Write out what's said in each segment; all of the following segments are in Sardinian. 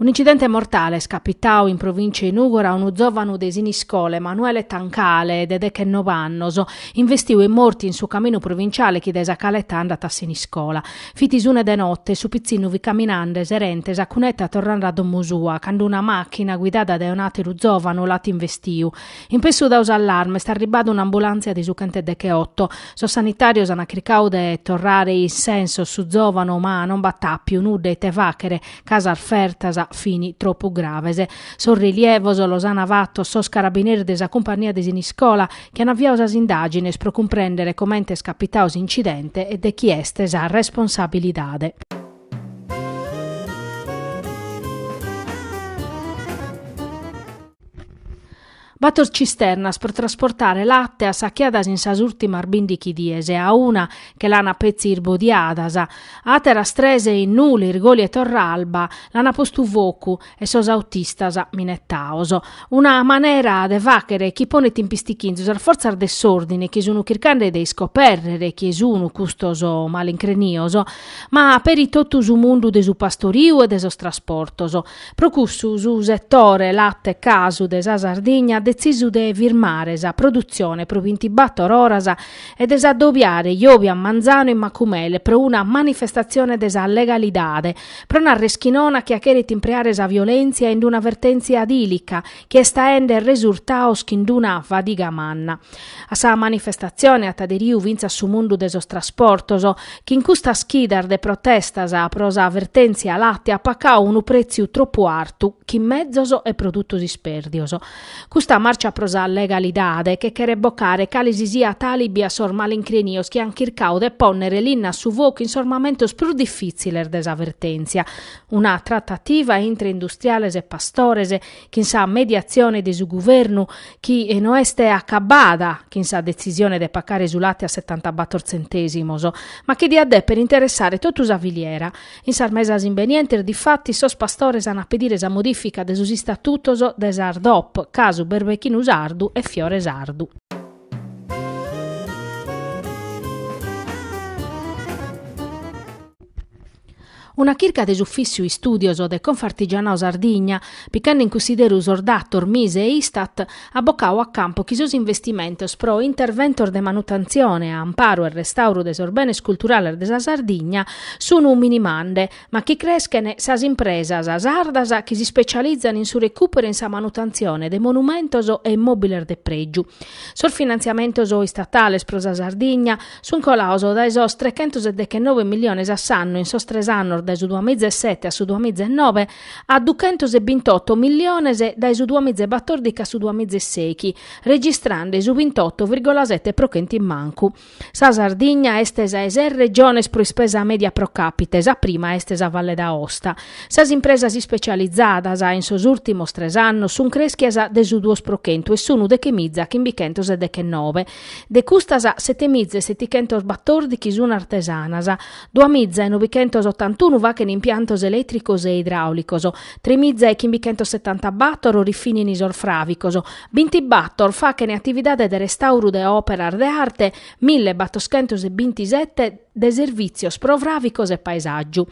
Un'incidente mortale est capitadu in provìncia 'e Nùgora a unu zòvanu de Siniscola, Emanuele Tancale, de dechenov'annos, investiu e mortu in su caminu provinciale chi dae sa Caleta andat a Siniscola. Fit s'una de notte e su pitzinnu fit caminande serente sa cuneta torrande a domo sua, cando una machina, guidada dae un'ateru zovanu, l'at investiu. In pessu dau s'allarme est arribbada un'ambulantzia de su chenteddecheotto. Sos sanitarios an chircau de torrare in sensos su zovanu ma non b'at appiu nudda ite fachere ca sas fertas fini troppu graves. Sos relievos los ana fattos sos carabineris de sa cumpagnia de Siniscola chi an aviau sas indàgines pro cumprèndere comente est capitau s'incidente e de chie est sa responsabilidade. Bator cisternas pro trasportare late assachiadas in sas ùrtimas bìndighi dies e a una che l'ana petzi irbodiada, àteras tres in Nule, Irgoli e Torralba lis an postu focu e sos autistas minetaos, una manera de fàchere chi ponet in pistichinzu sas fortzas de s'òrdine chi sun chircande de iscopèrrere chie sun custos malincrenios, ma peri totu su mundu de su pastoriu e de sos trasportos. Pro cussu su setore late casu de sa Sardigna at detzisu de firmare sa produtzione pro bintibator oras e de s'adobiare Iobi a manzanu in Macumere pro una manifestatzione de sa legalidade, pro narrer chi nono a chie cheret impreare sa violentzia in d-una vertentzia dìlica chi est aende resurtaos chin d-una fadiga manna. A sa manifestatzione at aderiu fintzas su mundu de sos trasportos, chi in custas chidas de protestas pro sa vertentzia latte at pacau unu pretziu tropu artu chin mezos e produtos ispèrdios. Custa marcia pro sa legalidade che cheret bocare calesisiat àlibi a sos malincrenios chi an chircau de pònnere linna a su focu in sos mamentos prus difìtziles de sa vertèntzia. Una tratativa intre industriales e pastores, chin sa mediatzione de su guvernu, chi no est acabbada chin sa detzisione de pacare su late a setantabator tzentèsimos, ma chi diat dèpere interessare totu sa filiera. In sas mesas imbenientes, difatis, sos pastores an a pedire sa modifica de sos istatutos de sas DOP, casu Berbechinu Sardu e Fiore Sardu. Una chirca de s'Ufìssiu Istùdios de Confartigianao-Sardigna, picande in cunsideru sos datos Mise e Istat, at bocau a campu chi sos investimentos pro interventos de manutentzione, amparu e restauru de sos benes culturales de sa Sardigna sunu minimande, ma chi creschen sas impresas sardas chi s'ispecializan in su recùperu e in sa manutentzione de monumentos e immòbiles de prègiu. Sos finantziamentos istatales pro sa Sardigna sunt colados dae sos trechentos e dechennove miliones a s'annu in sos tres annos dae su duamiza e sete a su duamiza e nobe, a duchentos e bintoto milliones dae su duamiza e batordichi a su duamiza e seghi, registrande su bintoto virgola sete pro chentu in mancu. Sa Sardigna est sa 'e ses regiones pro ispesa media pro capite, sa prima est sa Valle d'Aosta. Sas impresas ispecializadas in sos urtimos tres annos sun creschias de su duos pro chentu e sunu dechemiza chimbichentos e dechenobe. De custas setemiza e setichentos batordichi sun artesanas, Duamiza e nobichentos ottantunu faghen impiantos elètricos e idraùlicos, tremiza e chimbichentos setanta bator rifìnin sos fràvicos, bintibator faghen atividade de restauru de òperas de arte, mille battoschentos e bintisete de servìtzios pro fràvicos e paesàgiu.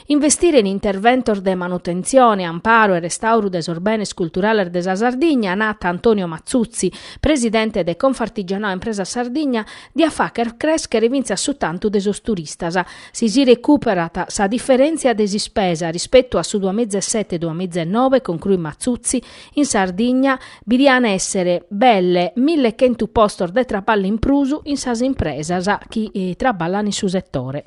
Investire in interventos de manutentzione, amparu e restauru de sos benes culturales de sa Sardigna, at nadu Antonio Mazzuzzi, presidente de Confartigianato Impresas Sardigna, diat fàghere crèschere fintzas su tantu de sos turistas. Si si recùperat sa diferèntzia de s'ispesa rispetu a su duamizaesete-duamizaenove, concruit Mazzuzzi, in Sardigna bi diant èssere belle mille chentu postos de traballu in prus in sas impresas chi traballant in su setore.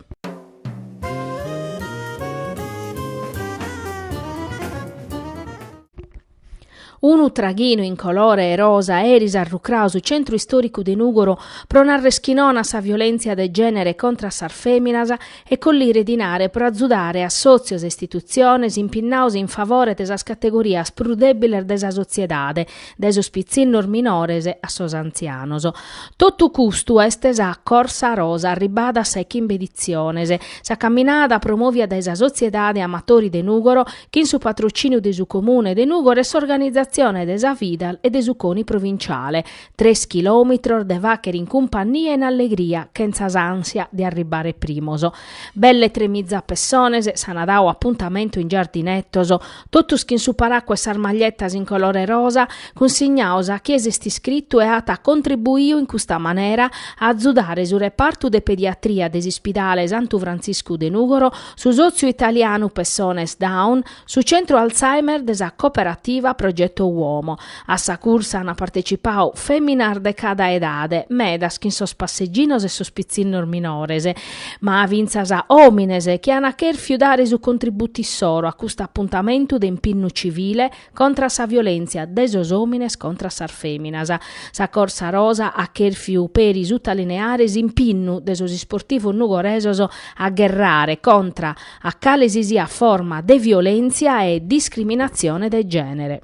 Unu traghinu in colore 'e rosa eris at rucradu su centru istòricu de Nùgoro pro narrer chi non a sa violèntzia de gènere contra a sas fèminas e collire dinare pro azudare a sòtzios e istitutziones impinnados in favore de sas categorias prus dèbiles de sa sotziedade, dae sos pitzinnos minores a sos antzianos. Totu custu est sa Corsa Rosa, arribada a sa 'e chimbe editziones. Sa camminada promòvia dae sa Sotziedade Amatori de Nùgoro chin su patrocìniu de su Comune de Nùgoro e s'organizatzione de sa Fidal e de su Coni Provinciale. Tres chilòmitros de fàghere in cumpannia e in allegria, chentza s'ànsia de arribare primos. Belle tremiza pessones s'ant dadu apuntamentu in Giardinetos, totus chin su paracu e sas maglietas in colore rosa, cunsignados a chie s'est iscritu e at contribuiu in custa manera a azudare su repartu de pediatria de s'Ispidale Santu Frantziscu de Nùgoro, su sòtziu italianu Pessones Down, su centru Alzheimer de sa cooperativa Progetto Uomo. A sa cursa ant partecipau fèminas de cada edade, medas chin sos passeginos e sos pitzinnos minores, ma fintzas òmines chi ant chèrfiu dare su contributu issoro a custu apuntamentu de impinnu civile, contra sa violèntzia de sos òmines contra sas fèminas. Sa Corsa Rosa at chèrfiu peri sutaliniare s'impinnu de sos isportivos nugoresos a gherrare contra a cale si siat forma de violèntzia e discriminatzione de gènere.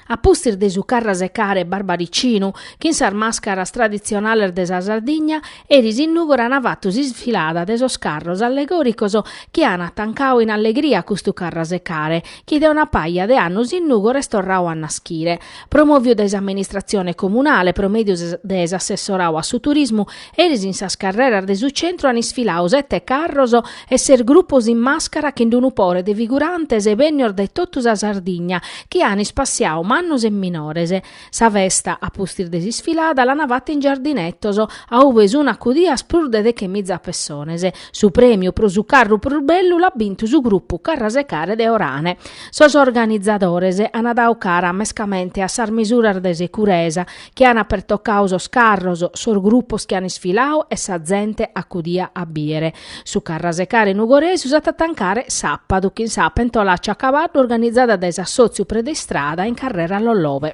A pustis de su carrasecare barbaricinu, chin sas màscaras traditzionales de sa Sardigna, eris in Nùgoro an fatu s'isfilada de sos carros allegòricos chi an tancadu in allegria custu carrasecare, chi de una paja de annos in Nùgoro est torradu a naschire. Promòviu dae s'amministratzione comunale pro mèdiu de s'assessoradu a su turismu, Eris in sas carreras de su centru an isfiladu sete carros e ses grupos in màscara chin d-unu pore de figurantes bennios dae totu sa Sardigna chi an ispassiadu mannos e minores. Sa festa, a pustis de s'isfilada, l'an fata in giardinetos, a ue sun acudias prus de dechemiza pessones. Su prèmiu pro su carru prus bellu l'at bintu su grupu Carrasecare de Orane. Sos organizadores an dadu cara mescamente a sas misuras de securesa chi an pertocau sos carros, sos grupos chi an isfilau e sa zente acudia a biere. Su carrasecare nugoresu s'at a tancare sapadu chin sa pentolaccia a cabaddu organizada dae s'assotziu Predeistrada in carrera Lollove.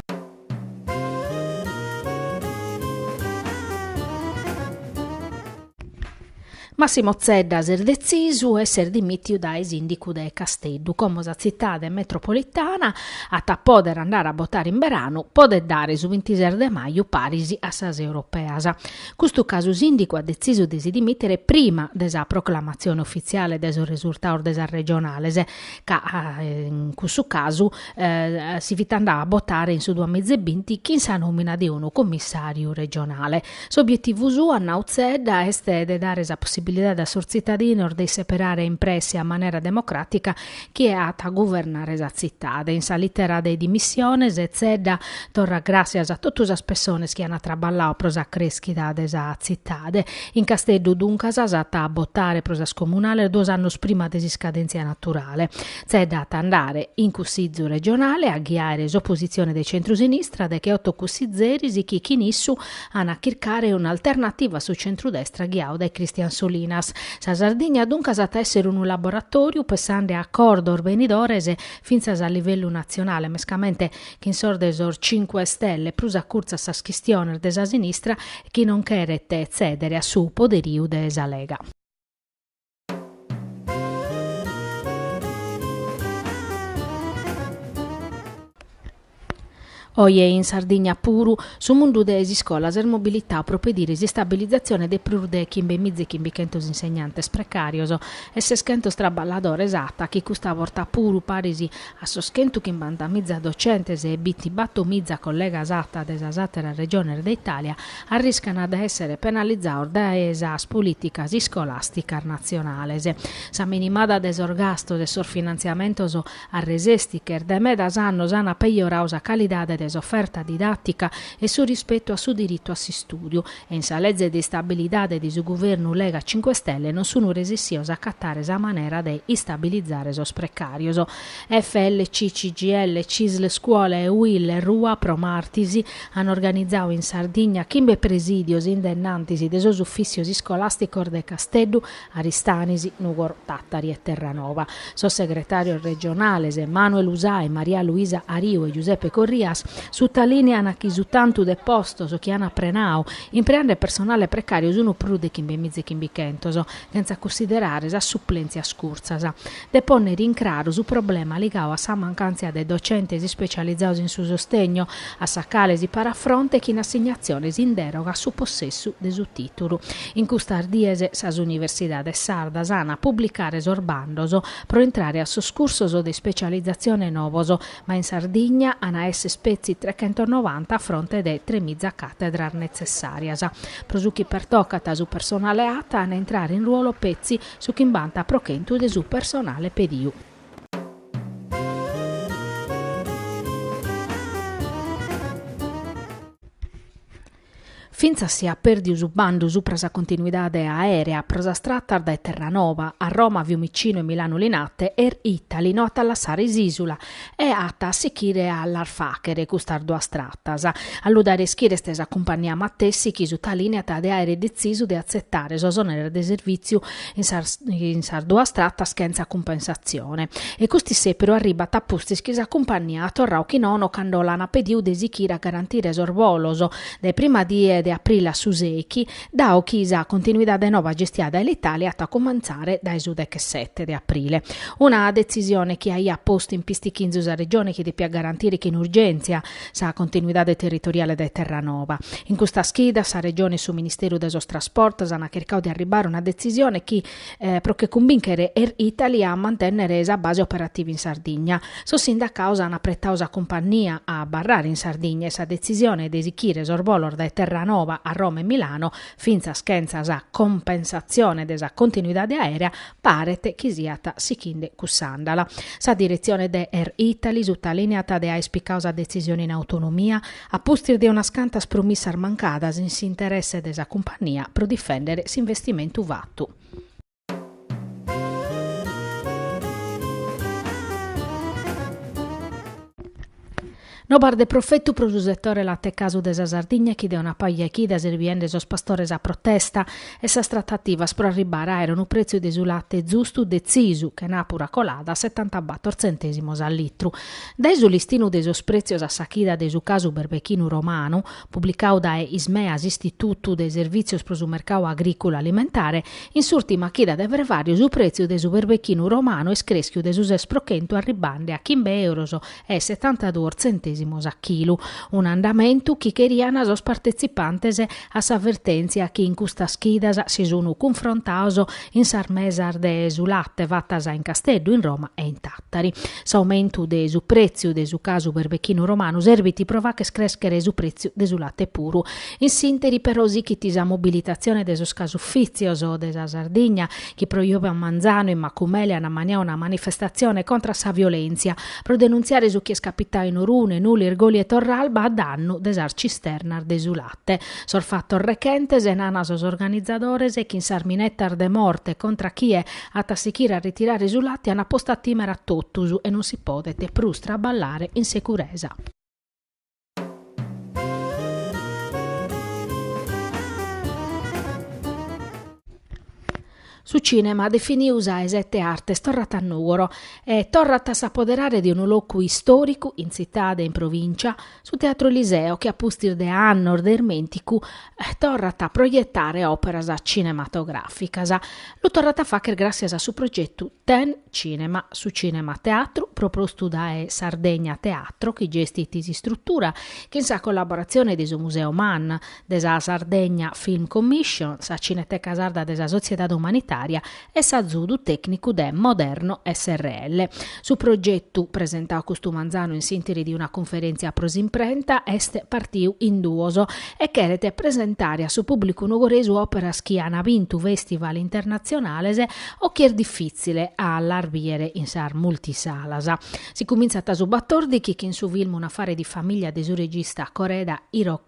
Massimo Zedda s'est detzisu e s'est dimìtiu dae sìndicu de Casteddu, como sa tzitade metropolitana at a pòdere andare a botare in beranu, podet dare su bintises de maju paris a sas europeas. Custu ca su sìndicu at detzisu de si dimìtere prima de sa proclamatzione ufitziale de sos resurtados de sas regionales, ca in cussu casu si fit andadu a botare in su duamiza e binti chin sa nòmina de unu cummissàriu regionale. S'obietivu suu, at nau Zedda, est de dare sa possibilidade a sos tzitadinos de isseperare in presse e a manera democràtica chie at a guvernare sa tzitade. In sa litera de dimissiones, Zedda torrat gràssias a totu sas pessones chi ant traballau pro sa crèschida de sa tzitade. In Casteddu, duncas, s'at a botare pro sas comunales duos annos prima de s'iscadèntzia naturale. Zedda at a andare in Cussìzu regionale a ghiaere s'opositzione de centru-sinistra degheoto cussìzeris chi chin issu an a chircare un'alternativa a su centru-destra ghiadu dae Christian Solinas. Sa Sardigna duncas at a èssere unu laboratòriu pessende a acordos benidores fintzas a livellu natzionale, mescamente chin sos de sos Cinque Stelle, prus acurtzu a sas chistiones de sa sinistra chi non cheret tzèdere a su poderiu de sa Lega. Oje in Sardigna puru, su mundu de s'iscola s'est mobilitau pro pediri s'istabilizatzione de prus de chimbe miza e chimbichentos insegnantes precàrios e seschentus traballadores ATA, chi custa borta puru paris a sos chentu chimbanta miza docentes e binti batto miza collegas ATA de sas àteras regiones de Itàlia, arriscant de èssere penalizados dae sas polìticas iscolàsticas natzionales. Sa minimada de sos gastos e sos finantziamentos a resèstiches dae medas annos ant pejoradu sa calidade de s'oferta didàtica e su rispetu a su diritu a s'istùdiu e in sa Lege de Istabilidade de su Guvernu Lega Cinque Stelle non sun resessios a acatare sa manera de istabilizare sos precàrios. FLC CGIL, Cisl Scuola e UIL Rua, pro martis, An organizau in Sardigna chimbe presìdios in de innantis de sos ufìssios iscolàsticos de Casteddu, Aristanis, Nùgoro, Tàtari e Terranova. Sos segretàrios regionales, Manuel Usai, Maria Luisa Ariu e Giuseppe Corrias, sutalìnean chi su tantu de postos chi an prenau, impreande personale precàriu, sunt prus de chimbe miza e chimbichentos, chentza cussiderare sas suplèntzias curtzas. de pònnere in craru su problema ligadu a sa mancàntzia de docentes ispecializados in su sostegno a sa cale si parat fronte chin assignatziones in dèroga a su possessu de su tìtulu. In custas dies sas universidades sardas ant a publicare sos bandos pro intrare a sos cursos de ispecializatzione novos, ma in Sardigna ant a esser petzi trechentonovanta a fronte de tremiza càtedras netzessàrias. Pro su chi pertocat su personale ATA ant a intrare in ruolo petzi Su chimbanta pro chentu de su personale pediu. Fintzas si at pèrdiu su bandu supra sa continuidade aèrea pro sas tratas dae Terranova a Roma Fiumicinu e Milanu-Linate, Air Italy no at a lassare s'ìsula E at a sichire a las fàghere custas duas tratas. A lu dare a ischire est sa cumpannia matessi chi sutalìneat de àere detzisu de atzetare sos òneres de servìtziu in sas in sas duas tratas chentza cumpensatzione. E custu issèperu arribbat a pustis chi sa cumpannia at torrau chi nono cando l'an pediu de sichire a garantire sos bolos dae prima die de aprile a su sèichi Dao chi sa continuidade noba gestia dae Alitalia at a cumentzare dae su dechesete de aprile, una detzisione chi aiat postu in pistichinzu sa Regione chi depiat garantire chin urgèntzia sa continuidade territoriale dae Terranova. In custas chidas sa Regione e su Ministeru de sos Trasportos ant chircadu de arribare a una detzisione chi, pro che cumbinchet Air Italy a mantenner sa base operativa in Sardigna. Sos sindacados an apretadu sa cumpannia a abarrare in Sardigna e sa detzisione de esichire sos bolos dae Terranova a Roma e Milano, fintzas chentza sa cumpensatzione de sa continuidade aèrea, paret chi siat sichinde cuss'àndala. Sa diretzione de Air Italy sutalìneat de aer picadu sa detzisione in autonomia, A pustis de unas cantas promissas mancadas in s'interesse de sa cumpannia pro difèndere s'investimentu fatu, non paret de profetu pro su setore latecasu de sa Sardigna chi de una paja 'e chidas est biende sos pastores a protesta e sas tratativas pro arribbare a àere unu prètziu de su late zustu detzisu, chenàpura colada, a setanta-bator tzentèsimos a litru. Dae su listinu de sos prètzios a sa chida de su casu berbechinu romanu, publicadu dae Ismea s'Istitutu de Servìtzios pro su Mercadu Agrìculu Alimentare, in s'ùrtima chida de fervàriu su prètziu de su berbechinu romanu est crèschiu de su ses pro chentu arribbende a chimbe euros e setantaduos tzentèsimos a chilu, un'andamentu chi cherian sos partetzipantes a sa vertèntzia chi in custas chidas si sun cunfrontados in sas mesas de su late fatas in Casteddu, in Roma e in. Tari, s'aumentu de su pretziu de su casu berbechinu romanu serbit pro fagher crèschere su pretziu de su late puru. In s'interi però sichit sa mobilitazione de sos casufìtzios de sa Sardigna chi pro jòbia manzanu in Macumele an ammaniadu una manifestazione contra sa violèntzia pro denuntziare su chi est capitadu in Orune, Nule, Irgoli e Torralba a dannu de sas cisternas de su late. Sos fatos rechentes, nana sos organizadores, chin sas minetas de morte contra chie At a sichire a ritirare su late an postu a timere a totus e non si podet prus traballare in securesa. Su cinema definiu sa 'e sete artes torrat a Nùgoro e torrat a s'apoderare de unu locu istoricu in tzitade e in provincia, Su Teatro Eliseo, chi a pustis de annos de ismènticu torrat a proietare òperas cinematogràficas, lu torrat a fàghere gràssias a su progetu Ten Cinema, su cinema teatru propostu dae Sardegna Teatro, chi gestit s'istrutura, chin sa collaboratzione de su Museu MAN, de sa Sardegna Film Commission, sa Cineteca Sarda de sa Sotziedade Umanitària e s'azudu tècnicu de Moderno srl. Su progetu, presentau custu manzanu in s'interi de una cunferèntzia pro s'imprenta, est partiu in duos e cheret presentare a su pùblicu nugoresu òperas chi an bintu fèstival internatzionales o chi est difìtzile a las bìere in sas multisalas. Si cumintzat su batòrdighi chin su filmu Un affare di famiglia de su regista Koreeda Hirokazu.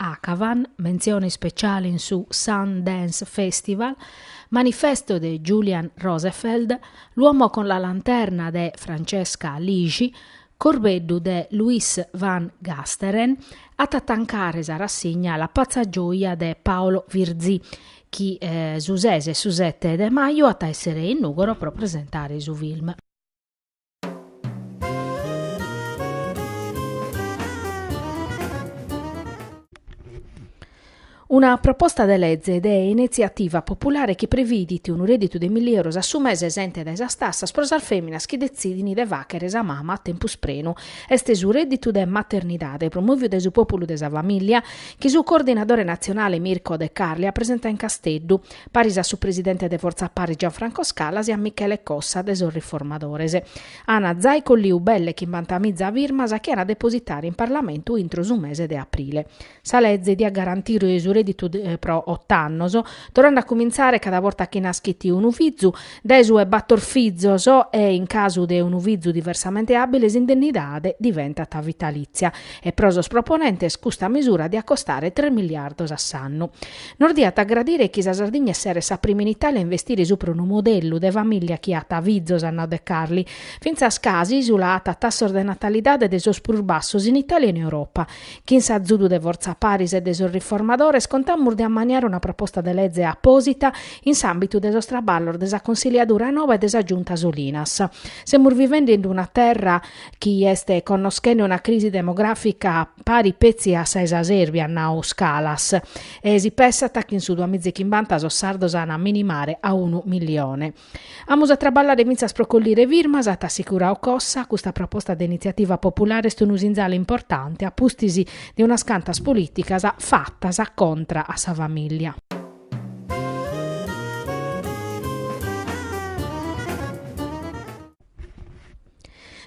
Akhavan, mentzione ispeciale in su Sundance Festival, Manifesto de Julian Rosefeldt, L'uomo con la lanterna de Francesca Lixi, Corbeddu de Louis van Gasteren, at a tancare sa rassigna La pazza gioia de Paolo Virzì, chi su ses e su sete de maju at a èssere in Nùgoro pro presentare su film. Una proposta de lege de inetziativa populare chi previdit unu rèdditu de milli euros a su mese esente dae sas tassas pro sas fèminas chi detzidin de fàghere sa mama a tempus prenu. Est su rèdditu de maternidade, promòviu dae su Pòpulu de sa Famìllia, chi su coordinadore natzionale Mirko De Carli at presentau in Casteddu. paris a su presidente de Fortza Paris Gianfranco Scalas e a Michele Cossa de sos Riformadores. Ana zai colliu belle chimbantamiza firmas chi an a depositare in Parlamentu intro su mese de aprile. Sa leze diat garantire su reditu pro ott'annos, torrande a cumintzare cada borta chi naschit unu fizu, dae su 'e battor fizos e, in casu de unu fizu diversamente abile, s'indennidade diventat vitalitzia e pro sos proponentes custa misura diat costare tres miliardos a s'annu. Nos diat agradare chi sa Sardigna esseret sa prima in Itàlia a investire supra unu modellu de famìllia chi at fizos at nau De Carli. Fintzas ca s'ìsula at tassos de natalidade de sos prus bassos in Itàlia e in Europa. Chin s'azudu de Fortza Paris e de sos riformadores contamus de ammaniare una proposta de leze apòsita in s'àmbitu de sos traballos de sa Consilliadura noa e de sa Giunta Solinas. Semus vivende in una terra chi est connoschende una crisi demogràfica pari petzi a sa 'e sa Sèrbia, at nau Scalas, e si pessat chi in su duamizechimbanta sos sardos an a minimare a unu millione. Amus a traballare fintzas pro collire firmas, at assicurau Cossa, custa proposta de Initziativa Populare est unu sinzale importante a pustis de unas cantas polìticas fatas contra a sa famìllia.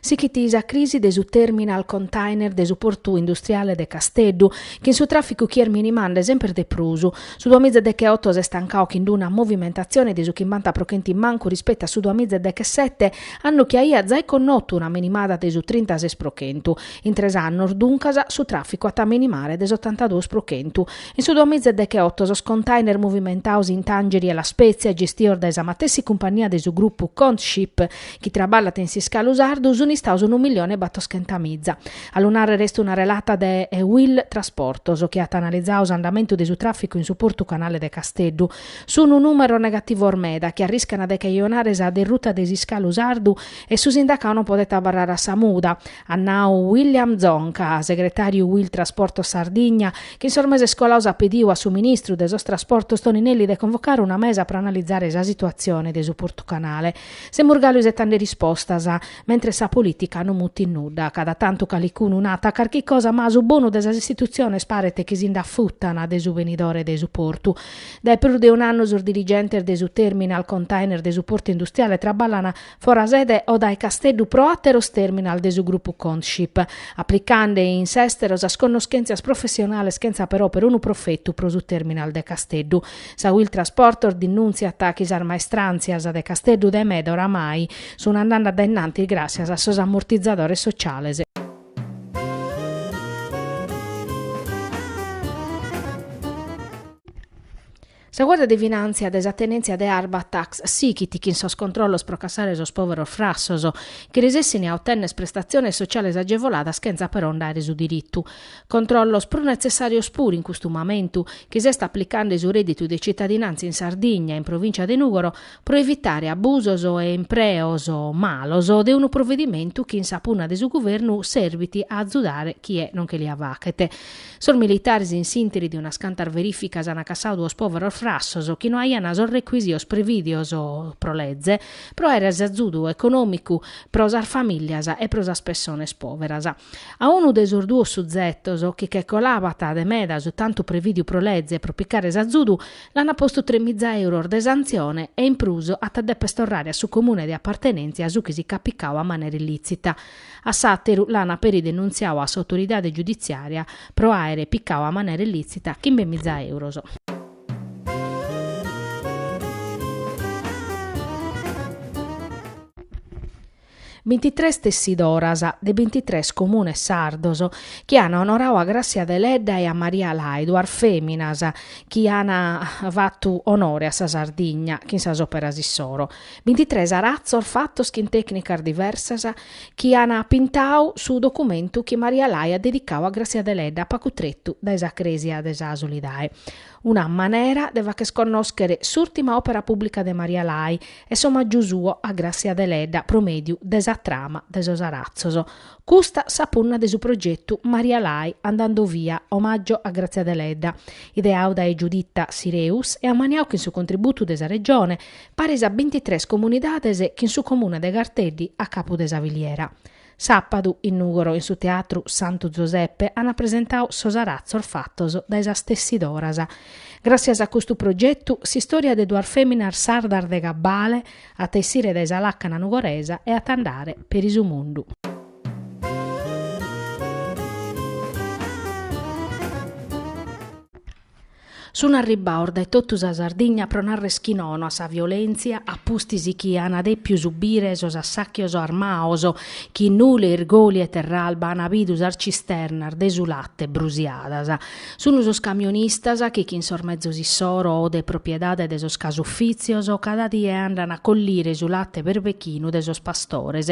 Sighit sa crisi de su terminal container de su portu industriale de Casteddu, chin su tràficu chi est minimande semper de prus. Su duamiza e deghe oto s'est tancau chin d-una movimentatzione de su chimbanta pro chentu in mancu rispetu a su duamiza deghe e sete, annu chi aiat zai connotu una minimada de su trintases pro chentu. In tres annos, duncas, su tràficu at a minimare de s'otantaduos pro chentu. In su duamiza e decheoto sos container movimentaos in Tangeri e La Spezia, gestios dae sa matessi cumpagnia de su grupu Contship, chi traballat in s'iscalu sardu, sunt istaos unu milione e battoschentamiza. A lu nàrrere est una relata de Uil Trasportos, chi at analizau s'andamentu de su tràficu in su portu canale de Casteddu. Sunt nùmeros negativos meda, chi arriscant de cajonare sa derruta de s'iscalu sardu e su sindacau non podet abarrare a sa muda. at nau William Zonca, segretàriu Uil Trasportos Sardigna, chi in sos meses colados at pediu a su ministru de sos Trasportos Toninelli de convocare una mesa pro analizare sa situatzione de su Portu Canale. Semus galu isetende rispostas, mentre sa polìtica non mutit nudda, cada tantu calicunu nat carchi cosa ma a su bonu de sas istitutziones paret chi si nd'afutan de su benidore de su portu. Dae prus de un'annu sos dirigentes de su Terminal Container de su Portu Industriale traballan fora sede o dae Casteddu pro àteros terminal de su grupu Contship, aplicande in s'èstero sas connoschèntzias professionales chentza però perunu profetu pro su terminal de Casteddu. Sa Uil Trasportos dinnùntziat chi sas maestràntzias de Casteddu de meda oramai sun andande a dae in antis gràssias a sos ammortizadores sociales. Sa Guardia de Finàntzia de sa Tenèntzia de Arbatax sighit chin sos controllos pro cassare sos pòveros frassos chi resessint a otènnere prestatziones sotziales agevoladas chentza però nde àere su diritu. Controllos prus netzessàrios puru in custu mamentu chi s'est aplicande su rèdditu de tzitadinàntzia in Sardigna e in Provìncia de Nùgoro pro evitare abusos e impreos malos de unu provedimentu chi in sa punna de su Guvernu serbit a azudare chie non che lia faghet. Sos militares in s'interi de unas cantas verificas ana cassadu duos poveros frassos chi no aiana sos recuisios previdios pro leze pro aere s'azudu economicu pro sas familias e pro sas pessones poveras. A unu de sos duos suzetos chi che colabant de meda su tantu previdiu pro leze pro picare s'azudu l'ana postu tres miza euros de santzione e in prus at a deper torrare a su comune de appartenentzia su chi si ch'at picadu a manera illitzita. A s'àteru l'an peri denuntziadu a s'autoridade giuditziària pro àere picadu a manera illìtzita chimbe miza euros. Bintitres tessidoras de bintitres comunes sardos chi an onoradu a Grassia Deledda e a Maria Lai, duas fèminas chi an fatu onore a sa Sardigna chin sas òperas issoro. Bintitres aratzos fatos chin tècnicas diversas chi an pintadu su documentu chi Maria Lai at dedicadu a Grassia Deledda pagu tretu dae sa crèsia de sa Solidae. Una manera de fagher connòschere s'ùrtima òpera pùblica de Maria Lai e s'omàgiu suo a Grassia Deledda pro mèdiu de sa trama de sos aratzos. Custa sa punna de su progetu Maria Lai andando via, Omaggio a Grazia Deledda, ideadu dae Giuditta Sireus e ammaniadu chin su contributu de sa Regione, paris a bintitres comunidades chin su Comune de Garteddi a capu de sa filiera. Sàpadu, in Nùgoro in su Teatru Santu Zoseppe ant presentadu sos aratzos fatos dae sas tessidoras. Gràssias a custu progetu, s'istòria de duas fèminas sardas de gabbale at a essire dae sa làcana nugoresa e at a andare peri su mundu. Sun arribbados dae totu sa Sardigna pro narrer chi nono a sa violentzia a pustis chi an depiu subire sos assàchios armados chi in Nule, Irgoli e Terralba an bidu sas cisternas de su late brusiadas. Sun sos camionistas chi chin sos mezos issoro o de propiedade de sos casufìtzios cada die andhan a collire su late berbechinu de sos pastores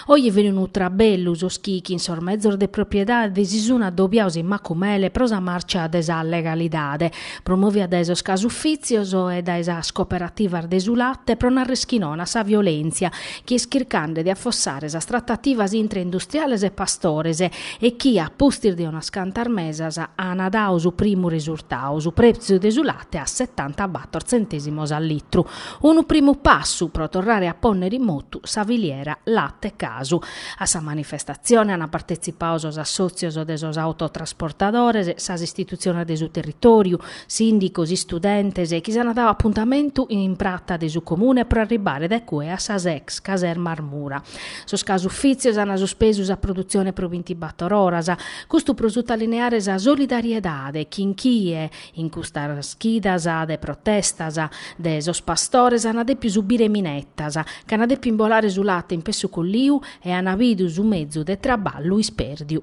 Oje fini unu trabellu, sos chi chin sos mezos de propiedade si sun adobiados in Macumele pro sa marcia de sa legalidade, promovia dae sos casufìtzios e dae sas cooperativas de su late pro narrer chi nono a sa violèntzia chi est chircande de affossare sas tratativas intre industriales e pastores e chi, a pustis de unas cantas mesas, ana dadu su primu resurtadu, su prètziu de su de a setantabator tzentèsimos a litru, unu primu passu pro torrare a pònnere in motu sa filiera late casu. A sa manifestatzione ant partetzipadu sos assòtzios de sos autotrasportadores, sas istitutziones de su territòriu, sìndicos, istudentes, chi s'ant dadu apuntamentu in prata de su Comune pro arribare dae cue a sas ex casermas Mura. Sos casufìtzios ant suspesu sa produtzione pro bintibator oras, custu pro sutalineare sa solidariedade chin chie, In custas chidas de protestas de sos pastores ana depiu subire minettas, ch'ana depiu imbolare su latte in pessu colliu e ana bidu su mezu de traballu isperdiu.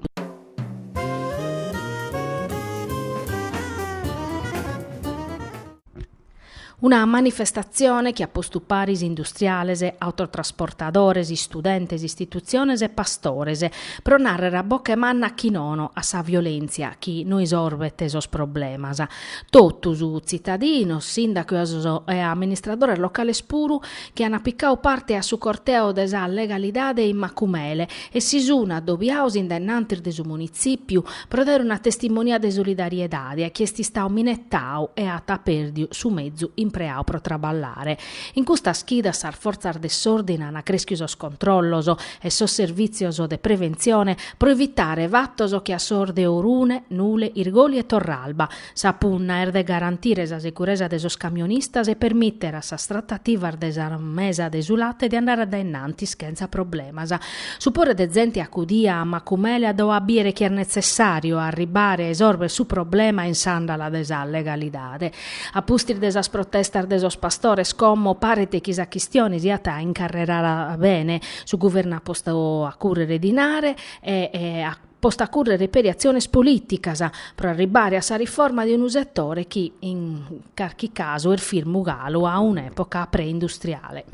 Una manifestatzione chi at postu paris industriales, autotrasportadores, istudentes, istitutziones e pastores, pro nàrrere a boche manna chi nono a sa violèntzia chi no isorbet sos problemas. Totus, tzitadinos, sìndacos e amministradores locales puru, chi ant picadu parte a su corteo de sa legalidade in Macumele e si sun adobiados in denantis de su Munitzìpiu pro dare una testimonia de solidariedade a chie est istadu minetadu e at pèrdiu su mezu impreadu pro traballare. In custas chidas sas fortzas de s'òrdine ant crèschiu sos controllos e sos servìtzios de preventzione pro evitare fatos che a sos de Orune, Nule, Irgoli e Torralba Sa punna est de garantire sa seguresa de sos camionistas e permìtere a sas tratativas de sa mesa de su late de andare a dae innantis chentza problemas. Su pore de zente acudiu a Macumele at dadu a bìere chi est netzessàriu arribbare a isòrvere su problema in s'àndala de sa legalidade. A pustis de sas protestas de sos pastores como paret chi sa chistione siat incarrerada bene, su Guvernu at postu a cùrrere dinare e a postu a cùrrere peri atziones polìticas pro arribbare a sa riforma de unu setore chi, in carchi casu, est firmu galu a un'època preindustriale.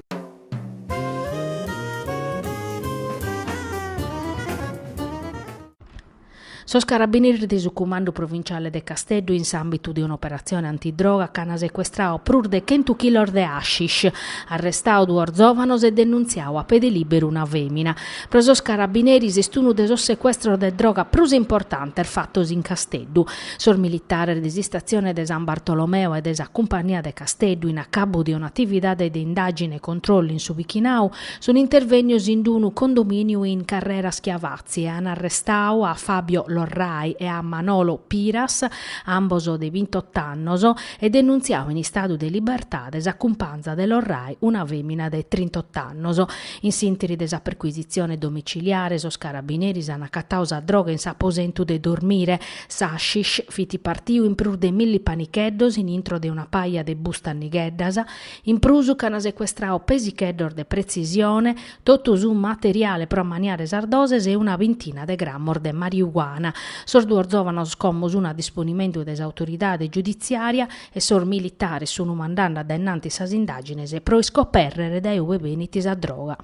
Sos carabineres de su Cumandu Provinciale de Casteddu in s'àmbitu de un'operatzione antidroga che an secuestradu prus de chentu chilos de hashish, arrestadu duos zòvanos e denuntziadu a pede lìberu una fèmina. Pro sos carabineris est unu de sos secuestros de droga prus importantes fatos in Casteddu. Sos militares de s'istatzione de San Bartolomeo e de sa Cumpagnia de Casteddu, in acabu de un'atividade de indàgine e controllu in su bichinau, sun intervènnios in unu condomìniu in Carrera Schiavazzi e an arrestadu a Fabio Lorrai e a Manolo Piras, ambos de bintotto annos, e denuntziadu in istadu de libertade sa cumpanza de Lorrai, una fèmina de trintotto annos. In s'interi de sa percuisitzione domiciliare sos carabineris an acatadu sa droga in s'aposentu de dormire. S'hashish fit partiu in prus de milli panicheddos in intro de una paja de bustas nigheddas. In prus ch'an secuestradu pesicheddos de pretzisione, totu su materiale pro ammaniare sas doses e una bintina de grammos de mariuana. Sos duos zòvanos como sun a disponimentu de s'autoridade giuditziària e sos militares sun mandande a dae innantis sas indagines pro iscopèrrere dae ue benit sa droga.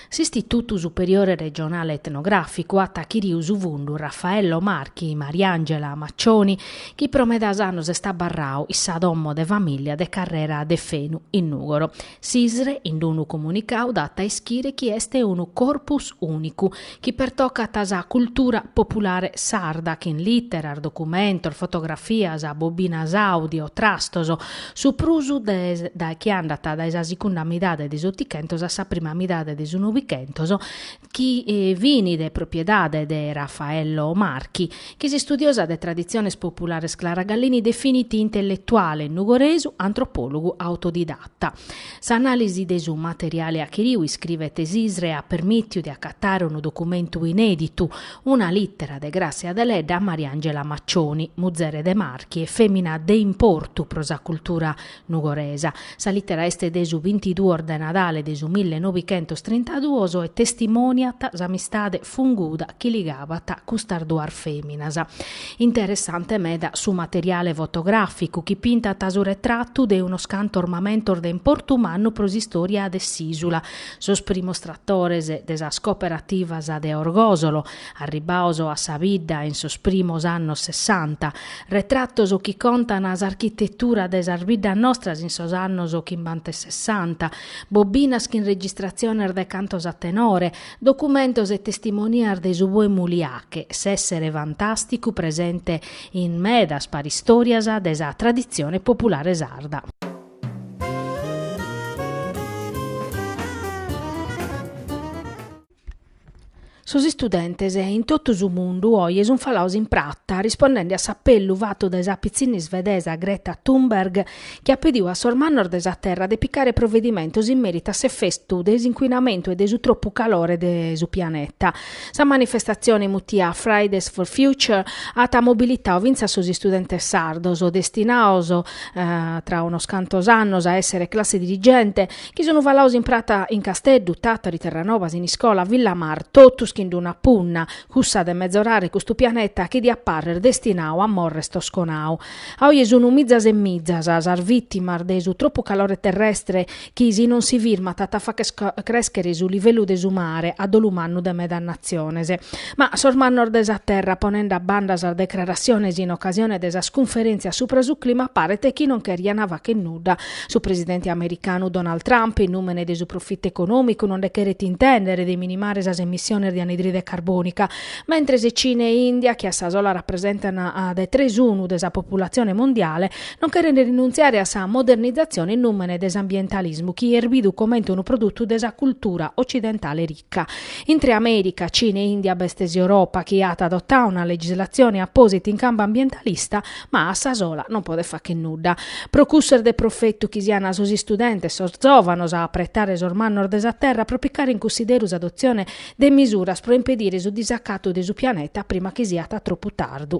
S'Istitutu Superiore Regionale Etnograficu at achiriu su fundu Raffaello Marchi, Mariangela Maccioni, chi pro medas annos est abarrau in sa domo de famìlia de Carrera Deffenu, in Nùgoro, S'ISRE, in unu comunicau, dat a ischire chi est unu corpus ùnicu, chi pertocat sa cultura populare sarda, chin lìteras, documentos, fotografias, bobinas àudio, trastos, su prus de chi andat dae sa sicunda midade de s'Otichentos a sa prima midade de su Novichentos, chi fin de propriedade de Raffaello Marchi, chi s'istudiosa de traditziones populares Clara Gallini definit intelletuale nugoresu, antropòlogu autodidatta. S'anàlisi de su materiale achiriu, iscrivet s'ISRE, at permìtiu de acatare unu documentu inèditu, una lìtera de Gràssia Deledda a Mariangela Maccioni, muzere de Marchi e fèmina de importu pro sa cultura Nugoresa. Sa lìtera est de su bintiduos de Nadale de su mille nobighentos trintaduos e testimòniat s'amistade funguda chi ligabat custas duas fèminas. Interessante meda su materiale fotogràficu chi pintat su retratu de unos cantos mamentos de importu mannu pro s'istòria de s'ìsula, sos primos tratores de sas cooperativas de Orgòsolo, Arribbados a sa bidda in sos primos annos sessanta, retratos chi contan s'architetura dae sas biddas nostras in sos annos chimbanta e sessanta, bobinas chin registratziones de cantos a tenore, documentos e testimonias de su pòpulu Liache, s'essere fantasticu presente in medas paristorias de sa traditzione populare sarda. Sos istudentes in totu su mundu oje sun falados in prata rispondende a s'apellu fatu dae sa pitzinna isvedesa Greta Thunberg, chi at pedidu a sos mannos de sa terra de picare provedimentos in meritu a s'efetu de s'incuinamentu e de su tropu calore de su pianeta. Sa manifestatzione mutiada Fridays for Future at mobilitadu fintzas sos istudentes sardos, destinados, tra unos cantos annos, a èssere classe dirigente, Chi sunu falados in prata in Casteddu, Tàtari, Terranova, Siniscola, Villamar, totus chin d-una punna, cussa de mezorare custu pianeta chi diat pàrrer destinadu a morrer tosconadu. A oje sunu mizas e mizas sas vìtimas de su tropu calore terrestre chi, si non si firmat, at a fagher crèschere su livellu de su mare a dolu mannu de medas natziones. Ma sos mannos de sa terra, ponende a banda sas decrarassiones in ocasione de sas cunferèntzias subra su clima, paret chi non cheriant fàghere nudda Su presidente americanu Donald Trump, in nùmene de su profitu econòmicu, no nde cheret intèndere de minimare sas emissiones de anidride carbònica. Mentres Cina e India, chi a sa sola rapresentan de tres unu de sa populatzione mondiale, no cherent rinuntziare a sa modernizatzione in nùmene de s'ambientalismu chi est bidu comente unu produtu de sa cultura otzidentale rica. Intre Amèrica, Cina e India b'est s'Europa chi at adotau una legislatzione apòsita in campu ambientalista, ma a sa sola non podet fagher nudda. Pro cussu est de profetu chi siant sos istudentes, sos zòvanos a apretare sos mannos de sa terra pro picare in cunsideru s'adotzione de misuras pro impedire su disacatu de su pianeta prima chi siat tropu tardu.